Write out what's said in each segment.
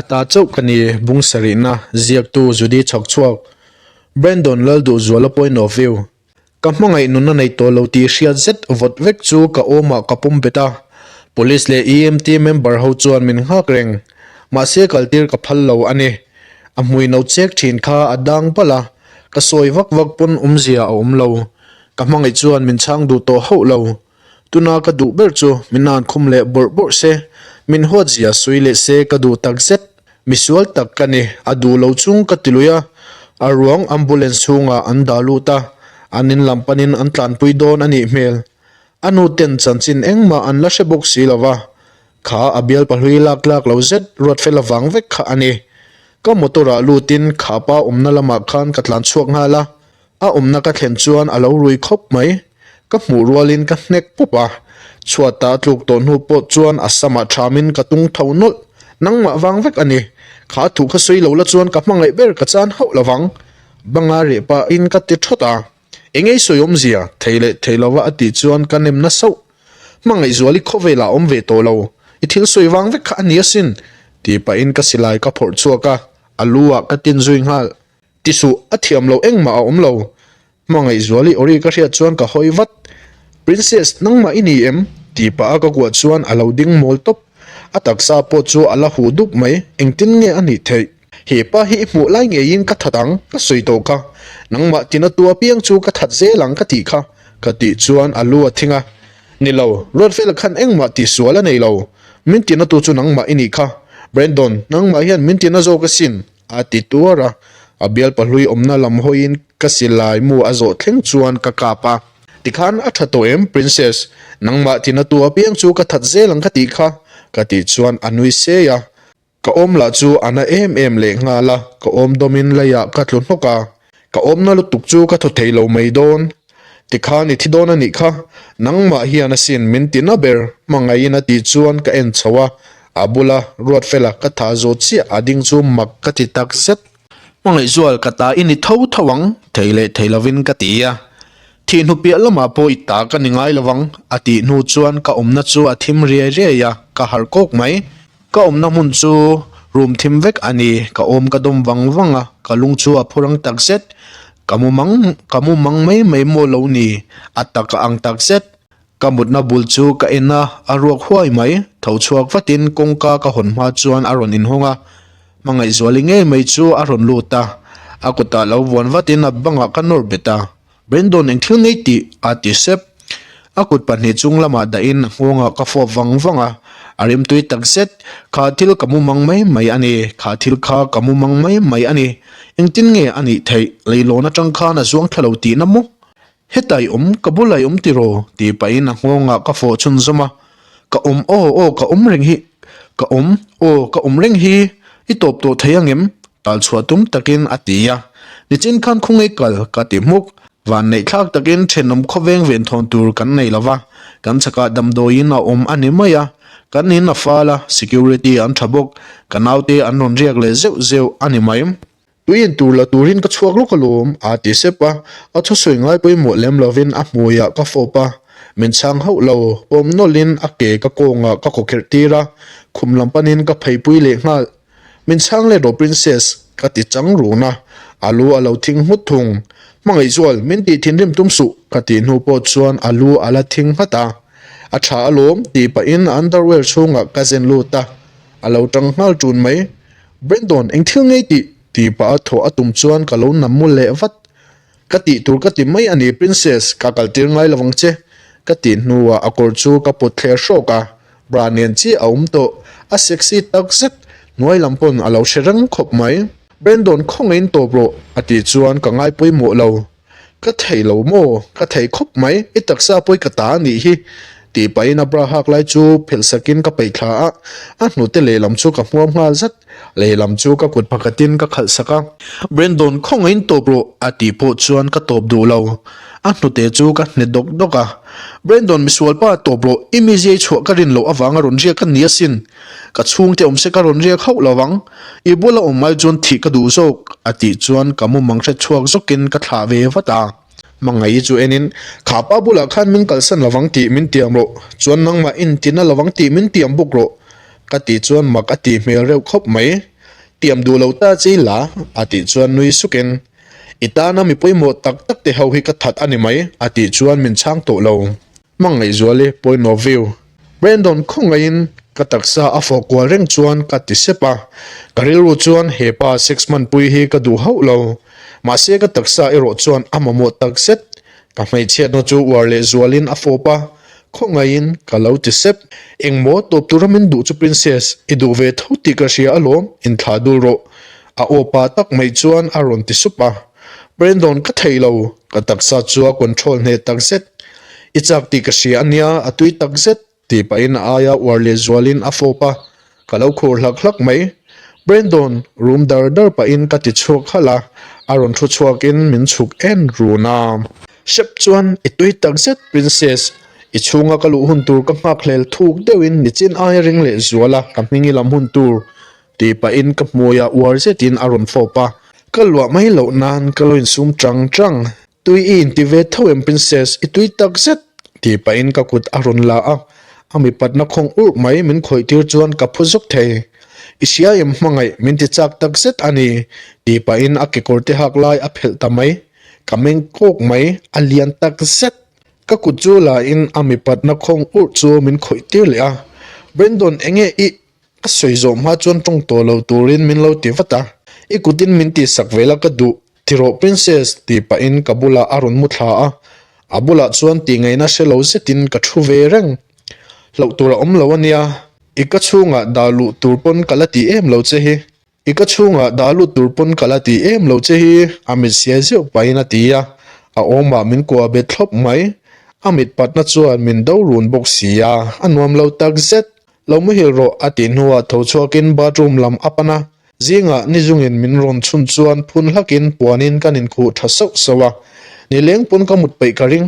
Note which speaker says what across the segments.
Speaker 1: A ta chauh ka ni bungsarihna ziaktu Judy chhawk chhuak Brandon Lalduhzuala point of view Ka hmangaih nunna nei tawh lo tih hriat zet vawt vek chu ka awmah ka pawm bet a, police leh EMT member ho chuan min nghak reng mahse kaltir ka phal lo a ni. A hmui no chek thin kha a dang balh a, ka sawi vak vak pawn awmzia a awm lo. Ka hmangaih chuan min chhang duh tawh hauh lo. Tuna ka duh ber chu min nan khum leh bawrh bawrh se, min huat zia sui leh se ka duh tak zet. Misual tak ka ni, a duh lo chung ka ti lui a. A ruang ambulance chhungah an dah lut a, an in lam panin an tlanpui dawn a nih hmel. A nu ten chanchin engmah an la hre bawk si lo va, kha a bialpa hlui lak lak lo zet ruat fel avang vek kha a ni. Ka motor ah lutin kha pa awmna lamah khan ka tlan chhuak nghal a, A awmna ka thlen chuan a lo rui khawp mai. Ka hmuh rualin ka hnek pawp a, chhuat ta tluk tawh hnu pawh chuan a sam ah ṭhamin ka tung tho nawlh. Nangmah vang vek a ni. Kha a thuh kha sawi lo la chuan ka hmangaih ber ka chan hauh lo vang. Banga reh pahin ka ti ṭhawt a, eng ei sawi awm zia, thei leh thei lo a a tih chuan ka nem nasauh. Hmangaih zual i khawvelah awm ve tawh lo, i thil sawi vang vek kha a ni asin, ti pahin ka silai ka phawrh chhuak a, a lu ah ka tin zui nghal. Ti suh a thiam lo engmah a awm lo. Hmangaihzual i awri ka hriat chuan ka hawi vat. Princess nangmah i ni em? Tih pah a ka kuah chuan a lo ding mawl tawp. A taksa pawh chu a la huh dup mai. Engtin nge a nih theih? Hepa hi i hmuh lai ngeiin ka that ang, ka sawi tawh kha. Nangmah tina tu apiang chu ka that zel ang ka tih kha. Ka tih chuan a lu a thing a. Ni lo, ruat vel khan engmah tih sual a nei lo. Min tina tu chu nangmah i ni kha. Brandon, nangmah hian min tina zawk asin. A ti tuar a, a bialpa hlui awmna lam hawiin ka silai mu a zawh thleng chuan ka kap a. Tikhan a tha tawh em Princess, nangmah tina tu apiang chu ka that zel ang ka tih kha, ka tih chuan a nui sei a, ka awm lah chu a na em em leh nghal a, ka awmdawmin lei ah ka tlu hnawk a. Ka awmna lutuk chu ka thaw thei lo mai dawn. Tikhan i thi dawn a nih kha, nangmah hian a sin min ti na ber. Hmangaiin a tih chuan ka en chho a, a bula ruat fela ka thah zo chiah a ding chu mak ka ti tak zet. Hmangaihzual ka ta i ni tho tho ang, thei leh thei lovin ka ti a. Thih hnu piah lamah pawh i ta ka ni ngai lo vang, a tih hnu chuan ka awmna chu a thim riai riai a, ka harh kawk mai. Ka awmna hmun chu rum thim vek a ni. Ka awm ka dawm vang vang a, ka lung chu a phur ang tak zet. Ka mu mang, ka mu mang mai mai maw lo ni? A tak a ang tak zet. Ka mutna bul chu ka en a, a ruak huai mai. Tho chhuak vatin kawngka ka hawn hma chuan a rawn inhawng a, hmangaihzuali ngei mai chu a rawn lut a. A kutah lo vuan vatin a bangah ka nawr bet a. Brendon eng thil ngei tih? a ti sep. A kut pahnih chung lamah dahin a nghawngah ka fuap vang vang a, a rimtui tak zet. Kha thil ka mu mang mai mai a ni, kha thil kha ka mu mang mai mai a ni. Engtin nge a nih theih? Leilawn atang khan a zuang thla lo tihna maw? Hetah i awm, ka bulah i awm tiraw? ti pahin a nghawngah ka fawhchhun zawm a, Ka awm aw aw ka awm reng hi ka awm aw ka awm reng hi i tawp tawh theih ang em? Tal chhuah tum takin a ti a. Nichin khan khawngei kal ka ti hmuk. Van neih thlak takin thenawm khawveng ven thawn tur kan nei lo va, kan chhakah damdawiin a awm a ni mai a. Kan in a fal a, security an tha bawk, ka naute an rawn riak leh zeuh zeuh a ni mai. Tui en tur la turin ka chhuak lawk alawm aa ti sep a, a thusawi ngai pawimawh lem lovin a hmuiah ka fawp a, min chhang hauh lo, pawm nawlhin a ke ka kawngah ka kaw kherh tir a, khum lam panin ka pheipui leh nghal. Min chhang let rawh Princess, ka ti chang run a, a lu a lo thing nghut thung. Hmangaih zual, min tih thinrim tum suh, ka tih hnu pawh chuan a lu a la thing nghat a, a tha alawm tih pahin a underwear chhungah ka zen lut a, a lo tang nghal tun mai. Brendon, eng thil ngei tih? tih pah a thawh a tum chuan ka lo nam maw leh vat. Ka tih tur ka ti mai a ni Princess, ka kal tir ngai lovang che. Ka tih hnuah a kawr chu ka put thleh hrawk a, bra nen chiah a awm tawh. A sexy tak zet, hnuai lam pawn a lo hre reng khawp mai. Brendon, khawngain tawp rawh, a tih chuan ka ngaipui mawh lo. Ka theih lo maw? Ka theih khawp mai. I taksa pawi ka ta a nih hi. Tih pahin a bra hak lai chu phelhsakin ka peih thla a. A hnute lehlam chu ka hmuam nghal zat. Lehlam chu ka kut phakatin ka khalhsak a. Brendon, khawngaiin tawp rawh a tih pawh chuan ka tawp duh lo. A hnute chu ka hne dawk dawk a. Brendon, misual pa tawp rawh. I miziai chhuah ka rin loh avanga rawn riak ka ni asin. Ka chhungte awm se ka rawn riak hauh lo ang, i bula awm ai chuan thih ka duh zawk, a tih chuan ka mumang hre chhuak zawkin ka thlah ve vat a. Mangaii chu enin, Kha pa bulah khan min kalsan lo ang tih min tiam rawh, chuan nangmah inti na lo ang tih min tiam bawk rawh, ka tih chuan mak a tih hmel reuh khawp mai. Tiam duh lo ta chi la, a tih chuan nui sukin, I tana mi pawimawh tak tak te ho hi ka that a ni mai, a tih chuan min chhang tawh lo. Hmangaihzual i point of view. Brandon khawngaihin ka taksa a fawh kual reng chuan ka ti sep a, ka rilru chuan hepa sex hmanpui hi ka duh hauh lo. Mahse ka taksa erawh chuan a mamawh tak zet. Ka hmeichhiatna chu uar leh zualin a fawp a, khawngaihin ka lo ti sep. Engmaw tawp tura min duh chu princess, i duh ve tho tih ka hria alawm, in thlah dul rawh. A awpa tak mai chuan a rawn ti sup a, Brandon ka thei lo, ka taksa chu a control hneh tak zet. I chak tih ka hria a nia, a tui tak zet, tih pahin a aia uar leh zualin a fawp a, ka lo khur hlak hlak mai. Brandon rum dar dar pahin ka ti chhuak halh a, a rawn thu chhuakin min chhuk en run a. Shep chuan i tui tak zet Princess, i chhunga ka luh hun tur ka nghak hlel thuk deuhin ni chin aia ring leh zuala ka hming i lam hun tur. Tih pahin ka hmui a uar zetin a rawn fawp a, ka luah mai loh nan ka lo insum ṭang ṭang. Tui i inti ve tho em Princess, i tui tak zet! Tih pahin ka kut a rawn la a, a mipatna khawng urh mai min khawih tir chuan ka phu zawk thei. I hria em hmangaih min ti chak tak zet a ni. Tih pahin a kekawr te hak lai a phelh ta mai, ka meng kawk mai, a lian tak zet. Ka kut chu lain a mipatna khawng urh chu min khawih tir leh a, Brendon enge i A sawi zawh hma chuan tawng tawh lo turin min lo ti vat a, i kutin min tihsak vel a ka duh, ti rawh Princess, tih pahin ka bulah a rawn mu thla a, a bulah chuan tih ngaihna hre lo zetin ka thu ve reng. Hloh tur a awm lo a nia, i ka chhungah dah luh tur pawn ka la ti em lo che hi. I ka chhungah dah lut tur pawn ka la ti em lo che hi a mit siai zeuh pahin a ti a, a awmah min kuah bet thlawp mai. A mit patna chuan min do run bawk si a, a nuam lo tak zet. Lo mahil rawh, a tih hnuah tho chhuakin bathroom lam a pan a, zingah ni zungin min rawn chhun chuan phun hlakin puanin kan inkhuh tha sauh sauh a, nileng pawn ka mut peih ka ring.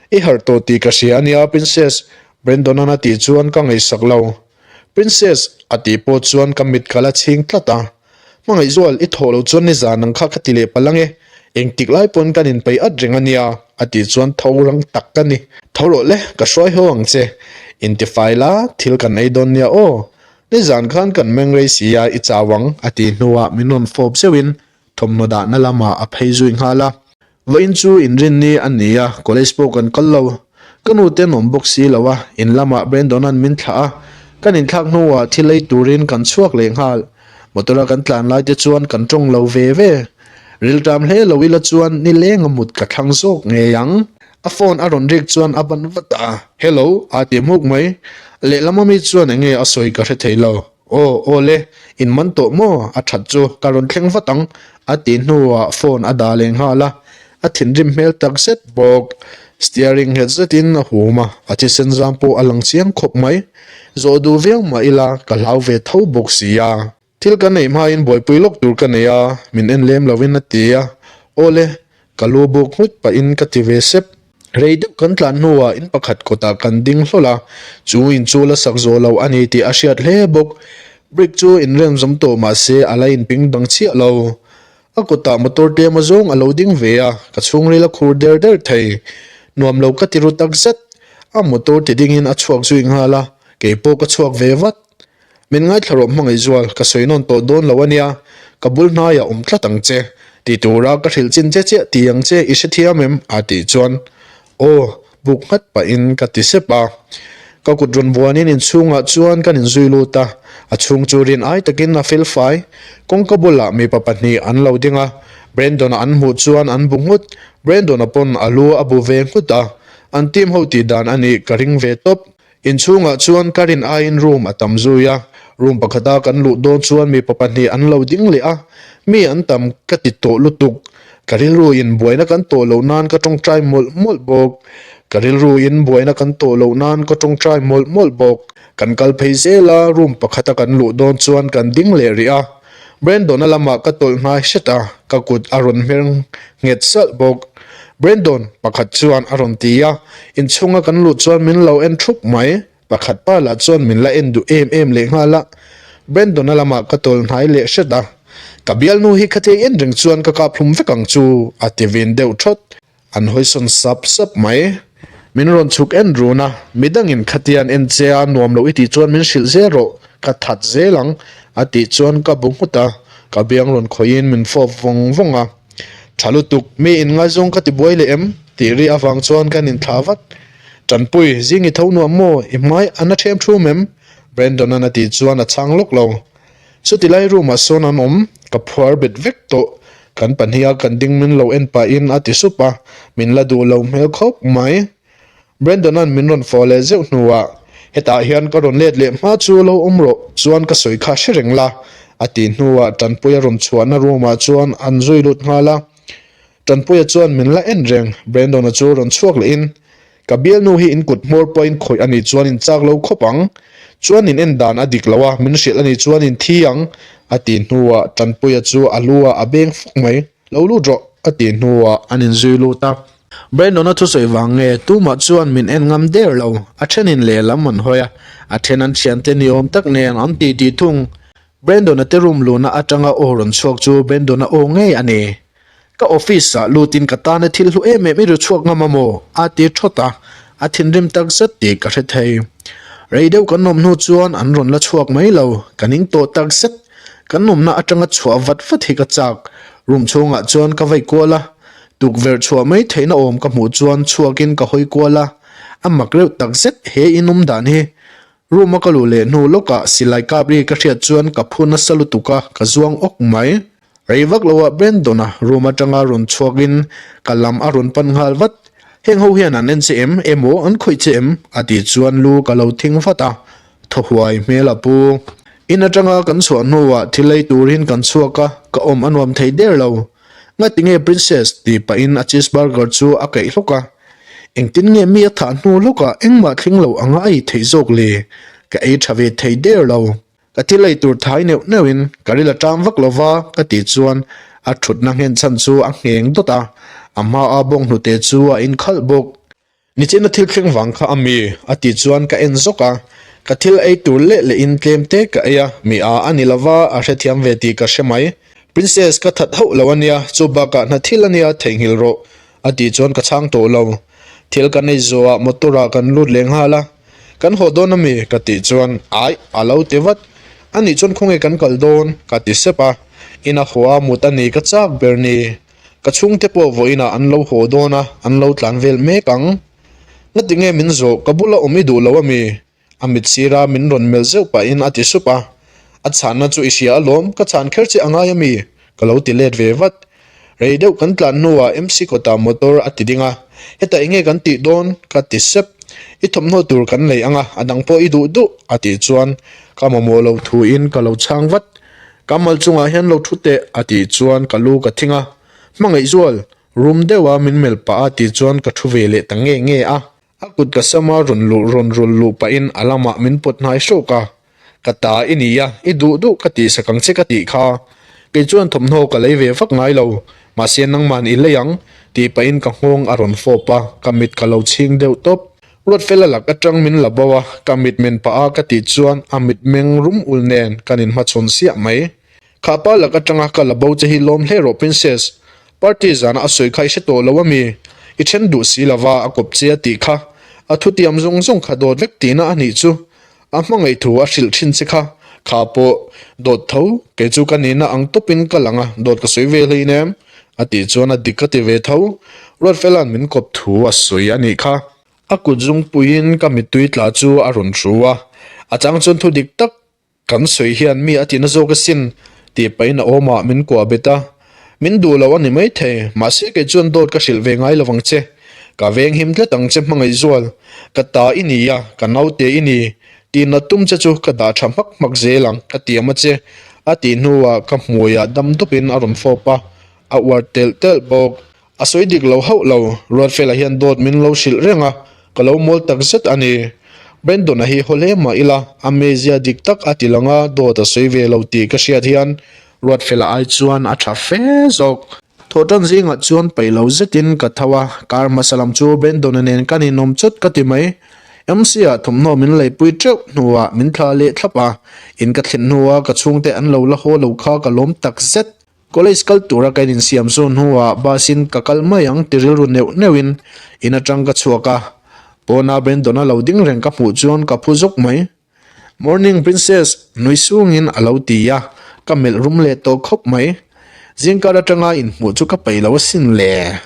Speaker 1: I harh tawh tih ka hria a nia, Princess, Brandon-a'n a tih chuan ka ngaihsak lo. Princess, a tih pawh chuan ka mit kal a chhing tlat a. Hmangaihzual, i thawh lo chuan nizan ang kha ka ti leh palang e, engtik lai paw'n kan inpei at reng a nia, a tih chuan tho rang tak ka ni. Tho rawh le, ka hruai ho ang che, intifai la, thil kan ei dawn nia aw, nizan khan kan mengrei si a, i chau ang, a tih hnuah min rawn fawp zeuhin Thawmhnaw dahna lamah a phei zui nghal a, Vawh in chu in rin ni a ni a, college pawh kan kal lo. Ka nu te an awm bawk si lo a, in lamah Brandon an min thlah a, kan in thlak hnuah thil ei turin kan chhuak leh nghal. Motor a kan tlan lai te chuan kan tawng lo ve ve. Rilṭam hle lo ila chuan ni lenga mut ka thlang zawk ngei ang. A phone a rawn rik chuan a ban vat a, Hello, aa ti hmuk mai. Lehlam ami chuan enge a sawi ka hre thei lo. Aw, aw le, in man tawh maw a that chu ka rawn thleng vat ang, a ti hnuah phone a dah leh nghal a, a thinrim hmel tak zet bawk. Steering nghet zetin a hum a, a thisenzang pawh a lang chiang khawp mai. Zawh duh viau mah ila ka hlau ve tho bawk sia. Thil ka neih hmain buaipui lawk tur ka nei a, min en lem lovin a ti a, aw le, ka lu buk nghut pahin ka ti ve sep. Rei deuh kan tlan hnuah in pakhat kawtah kan ding hlawl a, chu inchu la sak zawh loh a ni tih a hriat hle bawk. Brick chu in remzawm tawh mah se a la inping dang chiah lo. A kawtah motor ṭema zawng a lo ding ve a, ka chhungril a khur der der thei. Nuam lo ka ti ru tak zet. A motor ti dingin a chhuak zui nghal a, kei pawh ka chhuak ve vat. Min ngaithla rawh hmangaihzual ka sawi nawn tawh dawn lo a nia, ka bul hnaiah awm tlat ang che ti tura ka hrilh chin che chiah ti ang che i hrethiam em? a tih chuan aw buk nghat pahin ka ti sep a, ka kut rawn vuanin inchhungah chuan kan in zui lut a, a chhung chu rian ai takin a fel fai, kawngka bulah mipa pahnih an lo ding a, Brandon-a an hmuh chuan an bu nghut, Brandon-a pawn a lu a bu ve nghut a, an team ho tih dan a nih ka ring ve tawp, In chhungah chuan Karin aiin room a tam zui a, room pakhata kan luh dawn chuan mipa pahnih an lo ding leh a, mi an tam ka ti tawh lutuk, ka rilru in buaina kan tawh loh nan ka tawngtai mawlh mawlh bawk, ka rilru in buaina kan tawh loh nan ka tawngtai mawlh mawlh bawk, kan kal phei zel a, room pakhata kan luh dawn chuan kan ding leh rih a. Brendona lama ka tawlh nghai hret a, ka kut a rawn hmer nghet salh bawk. Brendon, pakhat chuan a rawn ti a, inchhunga kan lut chuan min lo en thup mai, pakhat pa lah chuan min la en duh em em leh nghal a. Brendona lama ka tawlh hnai leh hret a, ka bialnu hi khatei en reng chuan ka kaphlum vek ang chu, a ti vin deuh thawt. An hawisawn sap sap mai. Min rawn chhuk en run a, midangin khatian en che a, nuam loh i tih chuan min hrilh zel rawh, ka that zel ang a tih chuan ka bu nghut a, ka biang rawn khawiin min fawp vawng vawng a. Tha lutuk, mi in ngaizawng ka ti buai leh em? tih ri avang chuan kan inthlah vat. Tanpuii, zing i tho nuam maw, i hmai a na ṭhiam ṭhum em? Brandon-a'n a tih chuan a chhang lawk lo. Chuti lai room ah sawn an awm, ka phuar bet vek tawh, kan pahnih a kan ding min lo en pah in a ti sup a, min la duh lo hmel khawp mai. Brandon an min rawn fawh leh zeuh hnu ah, Hetah hian ka rawn let leh hma chu lo awm rawh chuan ka sawi kha hre reng la, a ti hnu ah Tanpuia rawn chhuah na room ah chuan an zui lut nghal a, Tanpuia chuan, Min la en reng. Brandon-a chu rawn chhuak leh in, Ka bialnu hi in kut hmawr pawh in khawih a nih chuan in chak lo khawp ang. Chuan in en dan a dik lo a, min hrilh a nih chuan in thi ang. A tih hnuah Tanpuia chu a lu a a beng fak mai. Lo lut rawh, a tih hnuah an in zui lut a. Brandon-a thusawi vang nge tumah chuan min en ngam der lo. A then in lehlam an hawi a, a then an thian te ni awm tak nen an ti ti thung. Brandon-a te room luna atanga aw rawn chhuak chu Brandon-a aw ngei a ni. Ka office ah lut in ka tan a thil hlu em em i ru chhuak ngam a maw? a ti thawt a, a thinrim tak zet tih ka hre thei. Rei deuh kan awm hnu chuan an rawn la chhuak mai lo, ka ning tawh tak zet. Kan awmna atanga chhuah vat vat hi ka chak. Room chhungah chuan ka vaih kual a, tukverh chhuah mai theihna awm ka hmuh chuan chhuak in ka hawi kual a, a mak reuh tak zet he in awm dan hi. Room a ka luh leh hnu lawkah silai kap ri ka hriat chuan ka phun a sa lutuk a, ka zuang awk mai. Rei vak lo ah Ben Dona room atanga rawn chhuak in ka lam a rawn pan nghal vat, Heng ho hian an en che em? Emaw an khawih che em? a tih chuan lu ka lo thing vat a, Thaw huai hmel a pu. In atanga kan chhuah hnu ah thil ei tur in kan chhuak a, ka awm a nuam thei der lo. Nga tinge Princess? tih pah in a cheeseburger chu a keih hlawk a, Engtin nge mi a thah hnu lawk ah engmah thling lo anga a ei theih zawk le, ka ei tha ve thei der lo. Ka ti lei tur thai neuh neuh in ka ri la tang vak lo va ka tih chuan a thutna nghenchhan chu a ngheng dawt a, a hma a bawng hnute chu a in khalh bawk. Nichina thil thleng vang kha a mi? a tih chuan ka en zawk a, ka thil ei tur leh leh in tlem te ka ei a, mi a a ni lo va a hrethiam ve tih ka hre mai. Princess ka that hauh lo a nia, chu bak ah hnathil a nia theihnghilh rawh, A tih chuan ka chhang tawh lo. Thil ka nei zawhah motor ah kan lut leh nghal a. Kan haw dawn a mi? Ka tih chuan aih a lo ti vat. A nih chuan khawnge kan kal dawn? Ka ti sep a. In a haw a mut a ni ka chak ber ni. Ka chhungte pawh vawin ah an lo haw dawn a, an lo tlan vel mek ang. Ngatinge min zawh? Ka bula awm i duh lo a mi? A mit sir a min rawn melh zeuh pahin a ti sup a, A chhahna chu i hria alawm, ka chhan kher che a ngai ami? Ka lo ti let ve vat. Rei deuh kan tlan hnuah MC kawtah motor a ti ding a, Hetah enge kan tih dawn? ka ti sep. I thawmhnaw tur kan nei anga, a dang pawh i duh duh, a tih chuan ka mamawh lo thuin ka lo chhang vat. Ka mal chungah hian lo thu teh, a tih chuan ka lu ka thing a, Hmangaihzual, rum deuha min melh pah a tih chuan ka thu ve leh ta nge nge a. A kut ka sam a, rawn luh rawn rul luh pahin a lamah min pawt hnai hrawk a, ka ta i ni a, i duh duh ka tih sakang che ka tih kha. Kei chuan thawmhnaw ka lei ve vak ngai lo, mahse nangman i lei ang, tih pahin ka nghawng a rawn fawp a, ka mit ka lo chhing deuh tawp. Ruatfel a lak atang min la bo a, ka mit men pah a ka tih chuan a mit meng rum ul nen kan in hmachhawn siah mai. Kha pa lak atanga ka la bo che hi lawm hle rawh Princess, party zana a sawi kha i hre tawh lo a mi? I then duh si lova a kawp che a tih kha. A thutiam zawng zawng kha dawt vek tihna a nih chu. A hmangaih thu a hrilh thin che kha. Kha pawh, Dawt tho, kei chu ka nihna ang tawpin ka lang a, dawt ka sawi vel hlei in em? a tih chuan a dik a ti ve tho. Ruatfela'n min kawp thu a sawi a nih kha. A kut zung puiin ka mittui tla chu a rawn ru a. A chang chuan thu dik tak. Kan sawi hian mi a tina zawk asin tih pahin a awm a min kuah bet a, min duh loh a ni maithei, mahse kei chuan dawt ka hrilh ve ngai lovang che, ka veng him tlat ang che hmangaihzual ka ta i ni a, ka naute i ni tihna tum che chu ka dah tha hmak hmak zel ang ka ti a ma che a tih hnuah ka hmuiah dam dupin a rawn fawp a, a uar telh telh bawk A sawi dik lo hauh lo, Ruatfela hian dawt min lo hrilh reng a, ka lo mawl tak zet a ni. Brendon-a hi haw hle mah ila, amazia dik tak a ti langa dawt a sawi ve lo tih ka hriat hian, Ruatfela ai chuan a tha fe zawk. Thaw tan zingah chuan peih lo zetin ka tho a, kar hmasa lam chu Brendon-a nen ka ninawm chawt ka ti mai. MC-a thawmhnaw min lei pui teuh hnuah min thla leh thlap a, in ka thlen hnu a ka chhungte an lo la haw lo kha ka lawm tak zet. College kal tura kan insiam sawn hnuah busin ka kal mai ang ti rilru neuh neuhin in atang ka chhuak a, pawna Brendon a lo ding reng ka hmuh chuan ka phu zawk mai. Morning Princess, nui sungin a lo ti a, ka melh rum leh tawh khawp mai. Zingkar atanga inhmuh chu ka peih lo asin le.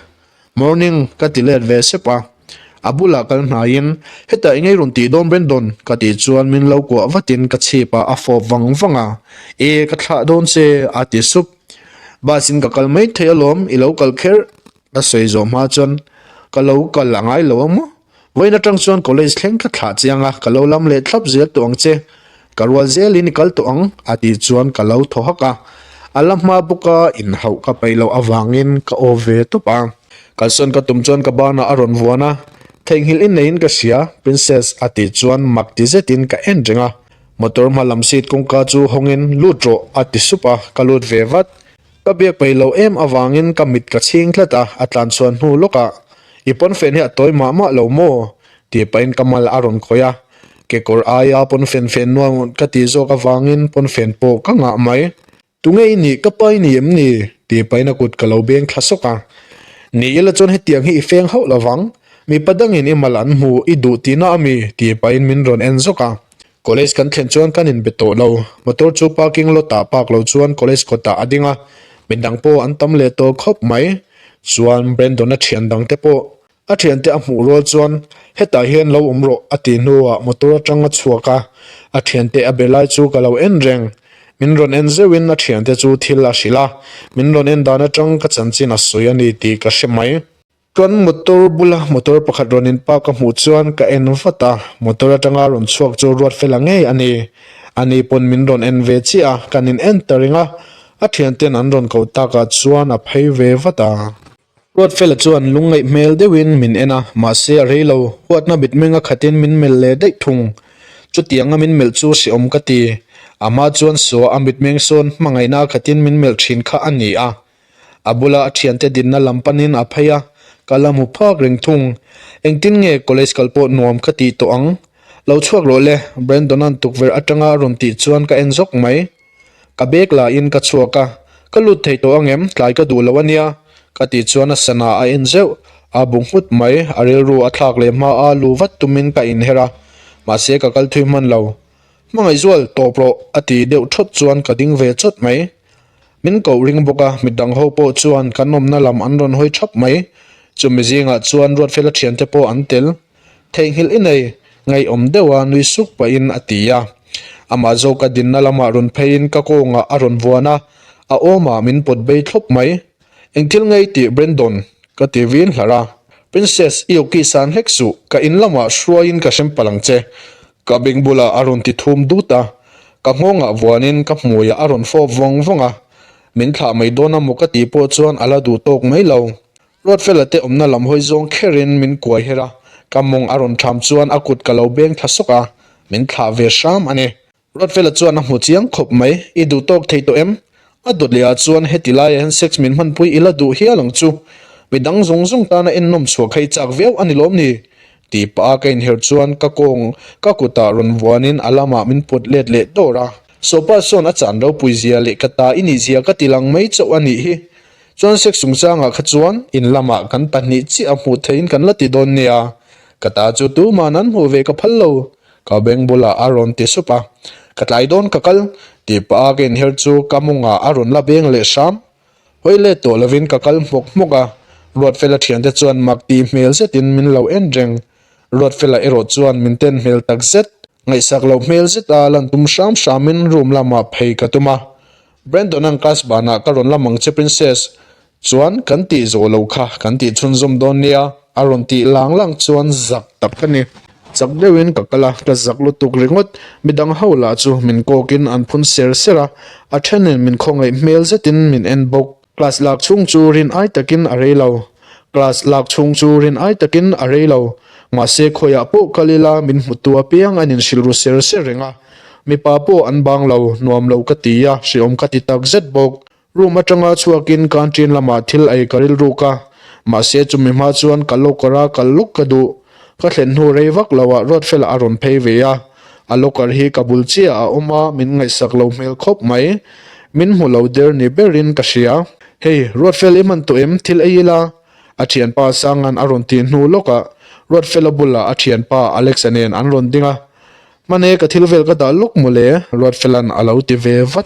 Speaker 1: Morning ka ti let ve sep a, a bulah kal hnaiin, Heta eng i rawn tih dawn Brendon? ka tih chuan min lo kuah vatin ka chhip a, a fawp vang vang a, E, ka thlah dawn che a ti sup. Bus in ka kal maithei alawm, i lo kal kher ka sawi zawh hma chuan ka lo kal a ngai lo a maw? Vawiin atang chuan college thleng ka thlah chiang a, ka lo lam leh thlap zel tawh ang che, ka rual zelin i kal tawh ang a tih chuan ka lo thaw hak a, a la hma bawk a, inhauh ka peih loh avangin ka aw ve tawp a. Kalsawn ka tum chuan ka banah a rawn vuan a, theihnghilh in neiin ka hria Princess a tih chuan mak ti zetin ka en reng a, motor hma lam seat kawngka chu hawngin lut rawh a ti sup a, ka lut ve vat, Ka biak peih loh em avangin ka mit ka chhing tlat a, a tlanchhuan hnu lawkah, I pawnfen hi a tawi mah mah lo maw? tih pahin ka mal a rawn khawih a, kekawr aia pawnfen fen nuam ka tih zawk avangin pawnfen pawh ka ngah mai. Tunge i nih ka pa i ni em ni? tih pahin a kut ka lo beng thla sawk a, ni ila chuan hetiang hi i feng hauh lovang, mipa dangin i mal an hmu i duh tihna a mi tih pahin min rawn en zawk a, College kan thlen chuan kan inbe tawh lo. Motor chu parking lot ah park lo chuan college kawtah a ding a. Midang pawh an tam leh tawh khawp mai. Chuan Brandon a thian dang te pawh a thian te a hmuh rual chuan Hetah hian lo awm rawh a ti hnuah motor atang a chhuak a. A thian te a be lai chu ka lo en reng. Min rawn en zeuhin a thian te chu thil a hrilh a. Min rawn en dan atang ka chanchin a sawi a ni tih ka hre mai. Chuan motor bula motor pakhat rawn in park ka hmuh chuan ka en vat a, motor atanga rawn chhuak chu ruat fel ang ngei a ni. A ni pawn min rawn en ve chiah a, kan in en ta ring a, a thiante'n an rawn koh tak ah chuan a phei ve vat a. Ruat fel ah chuan lung ngaih hmel deuh in min en a, mahse a rei lo, huatna bit meng a khat in min melh leh daih thung. Chutiang a min melh chu siawm ka ti. Amah chuan saw a mit meng sawn hmangaihna a khat in min melh thin kha a ni a, A bula a thiante dinna lam panin a phei a, ka la hmu phak reng thung. Engtin nge college kal pawh nuam ka tih tawh ang? Lo chhuak rawh le, Brandon-a'n tukverh atanga a rawn tih chuan ka en zawk mai. Ka bag lahin ka chhuak a, ka lut thei tawh angem, tlai ka duh lo a nia, ka tih chuan a sana a en zeuh. A buk nghut mai, a rilru a thlak leh hma a lu vat tumin ka inher a, mahse ka kal thui hman lo. Hmangaih zual, tawp rawh, a ti deuh thawt chuan ka ding ve chawt mai. Min koh ring bawk a, mi dang ho pawh chuan kan awmna lam an rawn hawi thap mai. Chumi zingah chuan Ruatfela thiante pawh an tel. Theihnghilh i nei, ngaihawm deuh a nui suk pahin a ti a. Amah zawk a dinna lamah rawn pheiin ka kawngah a rawn vuan a, a awmah min pawt bei thlawp mai. Eng thil ngei tih Brendon ka ti vin hlar a, Princess i kiss an hlek suh, ka in lamah hruaiin ka hrem palh ang che. Ka beng bulah a rawn ti thum dut a, ka nghawngah vuanin ka hmuiah a rawn fawp vawng vawng a, min thlah mai dawn a maw ka tih pawh chuan a la duh tawk mai lo. Ruatfela te awmna lam hawi zawng kherin min kuai her a, ka mawng a rawn tham chuan a kut ka lo beng thla sawk a, min thlah ve hram a ni. Rotfela chuan a hmu chiang khawp mai, I duh tawk thei tawh em? A dawt leh ah chuan heti lai ah hian sex min hmanpui ila duh hial ang chu, midang zawng zawng tan a ennawm chhuak hei chak viau a ni lawm ni? Tih pah a ka inherh chuan ka kawng ka kut ah rawn vuan in a lam ah min put let leh dawr a. Sopa chuan a chan ropui zia leh ka ta i nih zia ka ti lang mai chauh a nih hi, chuan sex chung chang ah kha chuan in lam ah kan pahnih chiah a hmuh theih in kan la ti dawn nia, ka ta chu tuman an hmuh ve ka phal lo, Ka beng bulah a rawn ti sup a, Ka tlai dawn ka kal, tih pa a ka inher chu ka mawngah a rawn la beng leh hram. Hawi let tawh lovin ka kal hmawk hmawk a, Ruatfela thiante chuan mak tih hmel zetin min lo en reng. Ruatfela erawh chuan min ten hmel tak zet. Ngaihsak lo hmel zet a lan tum hram hramin room lamah phei ka tum a, Brandon-a an class banah ka rawn la mang che Princess, Chuan, Kan tih zawh lo kha, kan tih chhunzawm dawn nia, a rawn tih lang lang chuan zak tak ka ni. Chak deuhin ka kal a, ka zak lutuk ringawt. Midang ho lah chu min kawkin an phun ser ser a, a thenin min khawngaih hmel zetin min en bawk. Class lak chhung chu rin ai takin a rei lo. Class lak chhung chu rin ai takin a rei lo. Mahse khawiah pawh kal ila min hmu tu apiang an inhrilh ru ser ser reng a. Mipa pawh an bang lo, nuam lo ka ti a, hriawm ka ti tak zet bawk. Room atanga chhuakin canteen lamah thil ei ka rilh ruk a, mahse chumi hma chuan ka locker a kal lawk ka duh. Ka thlen hnu rei vak loah Ruatfela a rawn phei ve a, a locker hi ka bul chiah a awm a, min ngaihsak lo hmel khawp mai. Min hmu lo der ni berin ka hria. Hey, Ruatfel i man tawh em, thil ei ila? a thianpa Sanga'n a rawn tih hnu lawkah Ruatfela bulah a thianpa Alex-a nen an rawn ding a. Hmane ka thil vel ka dah lawk mawle, Ruatfela'n a lo ti ve vat.